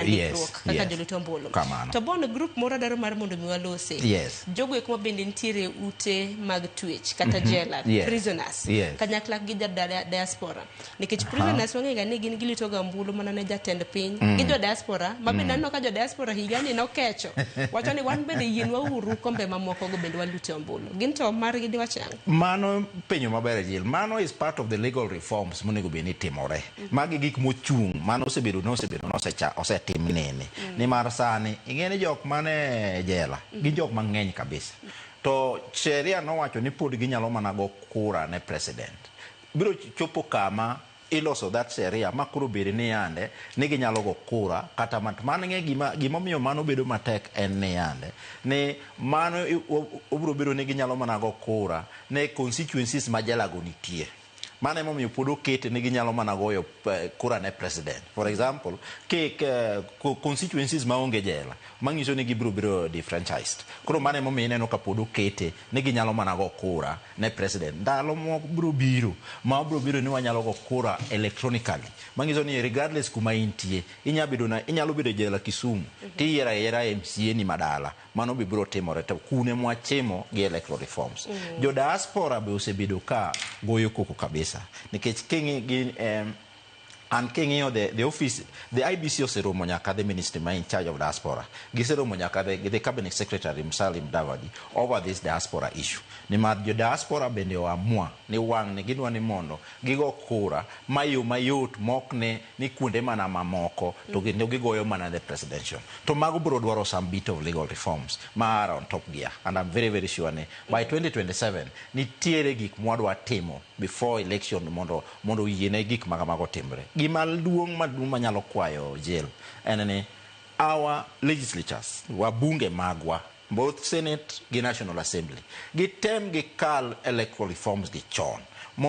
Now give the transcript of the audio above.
ndikruok kaka yes. joluto ombulu Kamano. to bono grup moro dwaro mar mondo mi walosi Yes. jogo eko mabende nitiere ute mag twech kata jela Yes. prisoners Yes. kanyakla gi ja- da- diaspora nikech prisoners wang'ega ni gin gilitoga ombulu mana ne jatend piny gi jo diaspora ma bende aneno ka jo diaspora higani nokecho wacho ni wan bende yienwa uru kombe mamokogo bende walute ombulu gin to margi diwachang mano penyo maber jil mano is part of the legal reforms monego bed ni timore Magi gik mochung' mano osebedo ne osebedo ne osecha osetim nene mm. nimar sani ing'e ni jok mane jela mm. gin jok mang'eny kabisa mm. to sheria nowacho ni pod ginyalo mana go kura ne president biro chopo kama iloso that sheria ma koro bedi ni yande ni ginyalo go kura kata mat man ng'e gima gima omiyo mano bedo matek en ni yande ni mano obiro bedo ni ginyalo mana go kura ne constituencies ma jalago nitie Mano ema omiyo pod okete ni ginyalo mana goyo kura ne president. For example, ki constituencies ma onge jela, manyiso ni gibiro biro defranchised. Koro mano ema omiyo ineno ka pod okete ni ginyalo mana go kura ne president. Ndalo moko biro biro ma biro biro ni wanyalo go kura electronically. Manyiso ni regardless kuma intie, inyalo bedo na inyalo bedo jela Kisumu, tiyiero ayiera MCA ni ma dala. Mano be biro timore to kune mwachimo gi electoral reforms. Mm. Jo diaspora be osebedo ka goyo koko kabisa nikech kingi gin um, an king'iyo the, the office the IBC oseromo nyaka the ministry ma in charge of diaspora giseromo nyaka the, the cabinet secretary Musalia Mudavadi over this diaspora issue nimar jo diaspora bende oamua ni wang' ni gidwa ni mondo gigo kura mayo mayot mok ne ni kuonde mana mamoko to kendo gigoyo mana the presidential to mago biro dwaro some bit of legal reforms ma are on top gear and I'm very very sure ni by 2027 nitiere gik mwadwa timo before election mondo mondo yiene gik ma kamago otimre. Gima duong' maduong' manyalo kwayo jail en ni our legislatures wabunge magwa both senate gi national assembly gitem gikal electoral reforms gi chon mondo